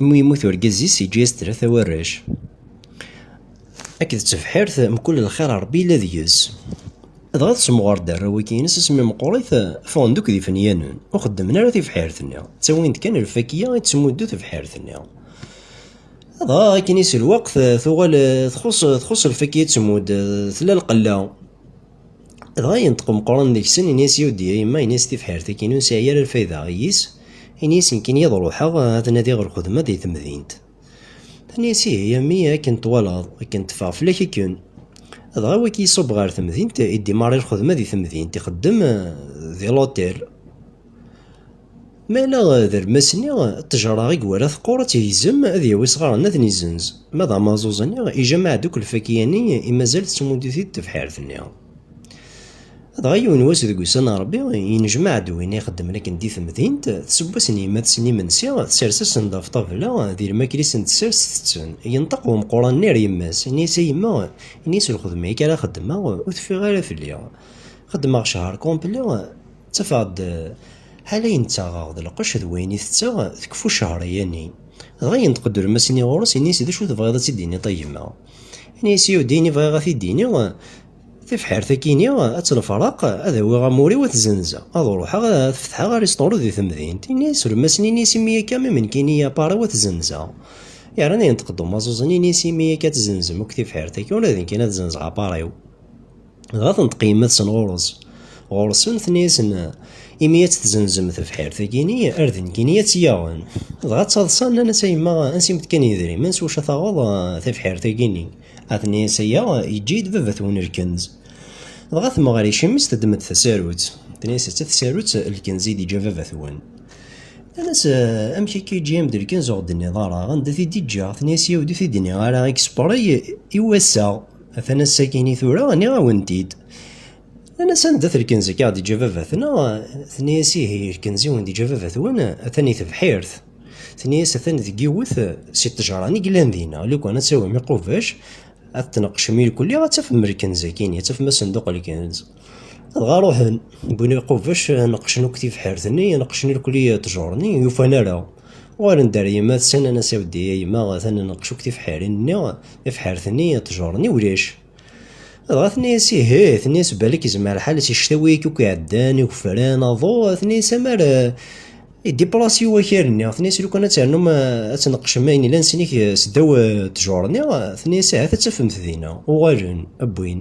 Imi yemmut urgaz-is, yeǧǧa-yas tlata warrac. Akked tebḥirt, mkul lxir Rebbi yella deg-s. Dɣa tessemɣer-d arraw-agi-ines asmi meqqrit, ffɣen-d akk d ifenyanen, ur xeddmen ara tibḥirt-nni, ttawin-d kan lfakya i d-tettmuddu tebḥirt-nni. Dɣa akken-is lweqt, tuɣal txuṣṣ lfakya i d-tettmudd, tella lqella. Dɣa yenṭeq umeqqran deg-sen, ini-as, Yudi, a yemma, ini-as tibḥirt-agi-inu ur nesɛi ara lfayda, iyi-s, ini-as nekkini ad ruḥeɣ ad nadiɣ ɣer lxedma di temdint. Tenna-as, Ihi a mmi, akken twalaḍ, akken teffeɣ fell-ak akken. Dɣa wagi iṣubb ɣer temdint, idimari lxedma di temdint, ixeddem di l'hôtel. Ma ala d almas-nni, ṭṭejra i iwala teqqur ad tigzem, ad yawi sɣaren ad nizenz. Ma d amaẓuẓ-nni, ijamaɛ-d akk lfakya-nni i mazal tettmuddit-it tebḥirt-nni. Dɣa yiwen wass deg ussan n Rebbi, yennejmaɛ-d win ixeddmen akken di temdint, tseww-as n yemma-tsen imensi, tsers-asen-d ɣef ṭabla, di lmakla i sen-tessers tetten. Yenṭeq wemquran-nni ar yemma-s, yenna-as, A yemma, ini-as lxedma-agi ara xeddmeɣ, ur teffiɣ ara fell-i. Xeddmeɣ ccher complet. Ttafeɣ-d ḥala ayen ttaɣeɣ d lqecc d wayen i tetteɣ, tekfu ccehr aya-nni. Dɣa yenṭeq-d Ulmas-nni ɣur-s, ini-as, D acu tebɣiḍ ad tt-id-tiniḍ a yemma? Ini-as, Yya-w-d ayen i bɣiɣ ad t-id-iniɣ, tibḥirt akkin-i ad tt-lefreq, ad awiɣ amur-iw ad t-zenzeɣ, ad ruḥeɣ ad fetḥeɣ arisṭuru di temdint. Ini-as, Ulmas-nni, ini-as, imi akka mi menkini apar-iw ad t-zenzeɣ. Yerna yenṭeq-d umaẓuẓ-nni, ini-as, imi akka ad tzenzem akk tibḥirt-agi, ula d nekkin ad zenzeɣ apar-iw. Dɣa tenṭeq yemma-tsen ɣur-s. Ɣur-sen tenna-yasen, imi ad tt-tzenzem tebḥirt-agi-ni, ar d nekkini ad tt-yaɣen. Dɣa ttaḍsan, nnan-as, a yemma, ansi-m-d kan yedrimen s wacu ad taɣeḍ tebḥirt-agi-ni? A tenna-yas aya, yeǧǧa-yi-d baba-twen lkenz. Dɣa temɣer icem-is teddem-d tasarut. Tenna-yas, d ta tsarut, lkenz i d-yeǧǧa baba-twen. Nnan-as, amek akka yeǧǧa-yam-d lkenz ur ɣ-d-tenniḍ ara anda t-id-yeǧǧa? Tenna-yas, yaw ur t-id-nniɣ ara, i yespeṛay, i wass-a. Atan ass-agi-ni tura, nniɣ-awen-t-id. Nnan-as anda-t lkenz akka ɣ-d-iǧǧa baba-tneɣ? Tenna-as ihi, lkenz i wen-d-iǧǧa baba-twen atan i tebḥirt. Tenna-as atan deg yiwet si ṭṭejṛan i yellan dinna. Lukan ad tawim iqubac, ad tneqqcem irkelli, ad tafem lkenz-agi-ni, ad tafem asenduq lkenz. dɣa ruḥen wwin lqubec neqqcen akk tibḥirt-nni neqqcen irkli ttjur-nni yufan ara uɣalen-d ar yemma-tsen anas aweddi a yemma atan neqqc akk tibḥirin-nni tibḥirt-nni ttjur-nni ulac dɣa tenna-yas ihi tenna-yas balak izmer lḥal si ctawi-ik akk iɛeddan igefran aḍu tenna-yas amar idipras i wakal-nni tenna-yas lukan ad ternum ad tneqqcem ayen ilan sinik seddaw ttjur-nni tenna-yas ahat ad tafemt dinna uɣalen wwin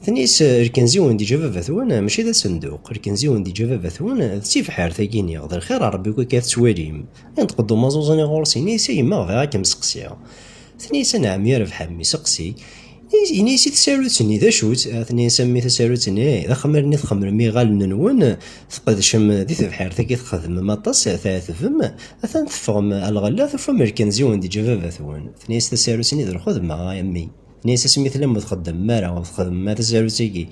Tenis, lkenzi wen di jababat wen, mačči d asenduq, lkenzi wen di jababat wen, d tibḥart agi niɣ, d lxir a Rebbi akka tettwalim. Inṭeq-d umaẓuẓ-nni ɣur-s ini-as, a yemma bɣiɣ a kem-seqsiɣ. Tenna-as, a nɛem ya Rebḥa mmi seqsi. Ini-as i tsarut-nni, d acu-tt? Tenna-as, a mmi tasarut-nni, d axmar-nni txemrem iɣallen-nwen, tqedcem di tebḥart agi txedmem aṭas, tɛetbem, atan teffɣem a lɣella tufam lkenzi wen di jababat wen. Tenna-as tasarut-nni, d lxedma a mmi. Nnises asmi tellam ur txeddmem ara, ur txeddmem ara tasarut-agi.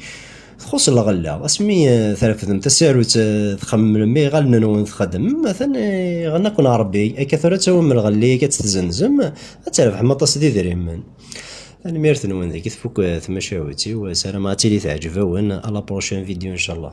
Txuṣṣ lɣella, asmi eh, trefdem tasarut eh, txemmlem iɣallen-nwen txeddmem, atan eh, iɣenna-ken Rebbi, akka tura ad tawim lɣella, akka ad tzenzem, ad trebḥem aṭas d idrimen. Tanemmirt-nwen deg tfukk tmacahut-iw, sarameɣ ad tili teɛjeb-awen, à la prochaine vidéo inchallah.